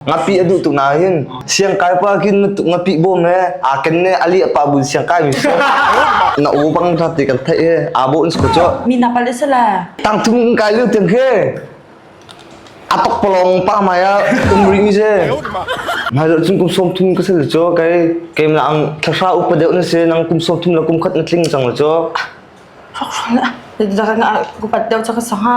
Ngapi a duh tuk na hin siangkai pa kin na tuk ngapih bawm he aa ken ne ali apa bun siangkai mi so na u bang na ti kan thai he aa bo insko cho mi na pal isala tang thung kai liu tiang he atok polong pa maya umri mi je mai lo chung kum som thun ka sel cho kai kem la ang thasha upa deu na se nang kum som thun la kum khat na tling chang la cho khóc la ra nga ku pat deu cho ka sanga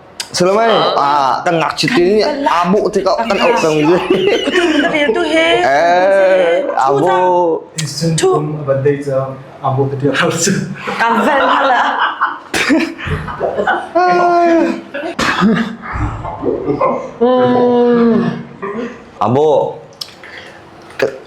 Salomai ah kan ngakchit in aa bawh tikah kan auh cang mi tu he eh abo Tum a ban dei ca abo te tiak har su kan van la abo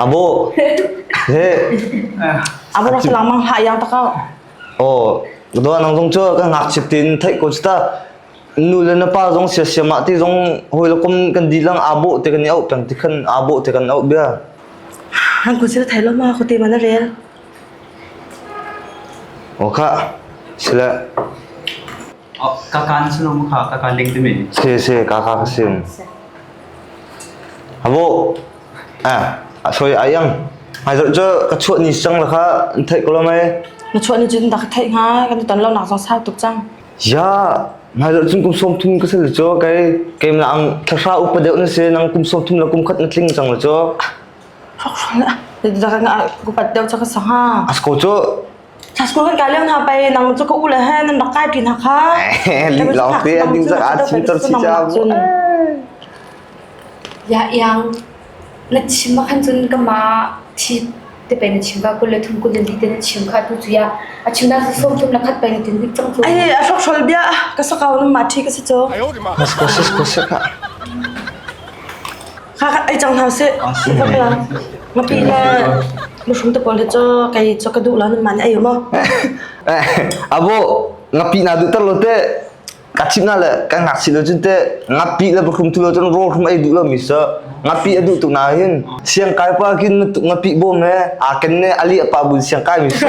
Abu. He. Abu ka selang mang ha yang tak kau. Oh, doa nang zong chu ka ngak chip tin thai ko chita nu le na pa zong sia sia ma ti zong hoi la kum kan di lang abu te kan au tang ti khan abu te kan au bia. Han kun sila thai lo ma ko te mana rel. Oh ka. Sila. Ka kaan sullam kha ka kaan leng timi. Se se ka ka ka sim. Abo ah a soi ayang. Hai zot jo ka chuat ni sang la kha thai ko lo mai. Na chuan ni jin da ka thai nga kan tu tan lo nak zong sa tuk chang. Ya ngai zot chung kum som thum ka sel cho kai kem la ang thasra upa deu na se nang kum som thum la kum khat na tling chang la cho. Rok rok la. Da ka nga ku pat deu cha ka sanga. Asko cho School kan kai leo hna pei nang cu ka u le he nan rak kai ṭi hna kha. Lim lawng te an ding zak ah chin tor si cha. Ya iang na chim ma khan cun ka ma thi te pe na chim ba kul le thum kul le li te na chim kha tu chu ya a chim da som tum la khat pe na tin dik chang chu ai a fok shol bia ka sakau na ma thi ka si cho mas ko sis ko sis Kha kha ei cang hna sih. Ngapi le ngapi le mushroom te pawl hi cu kei cu ka duh lo man ei maw. Eh, abo ngapi na duh ter lo te ka chim na le ka ngak si lo cun te ngapi le bakhum thu lo cun ro khum ei duh lo mi so ngapi a duh tuk na hin siang kai pa kin ngapi bom he a ken ne ali apa bun siang kai mi so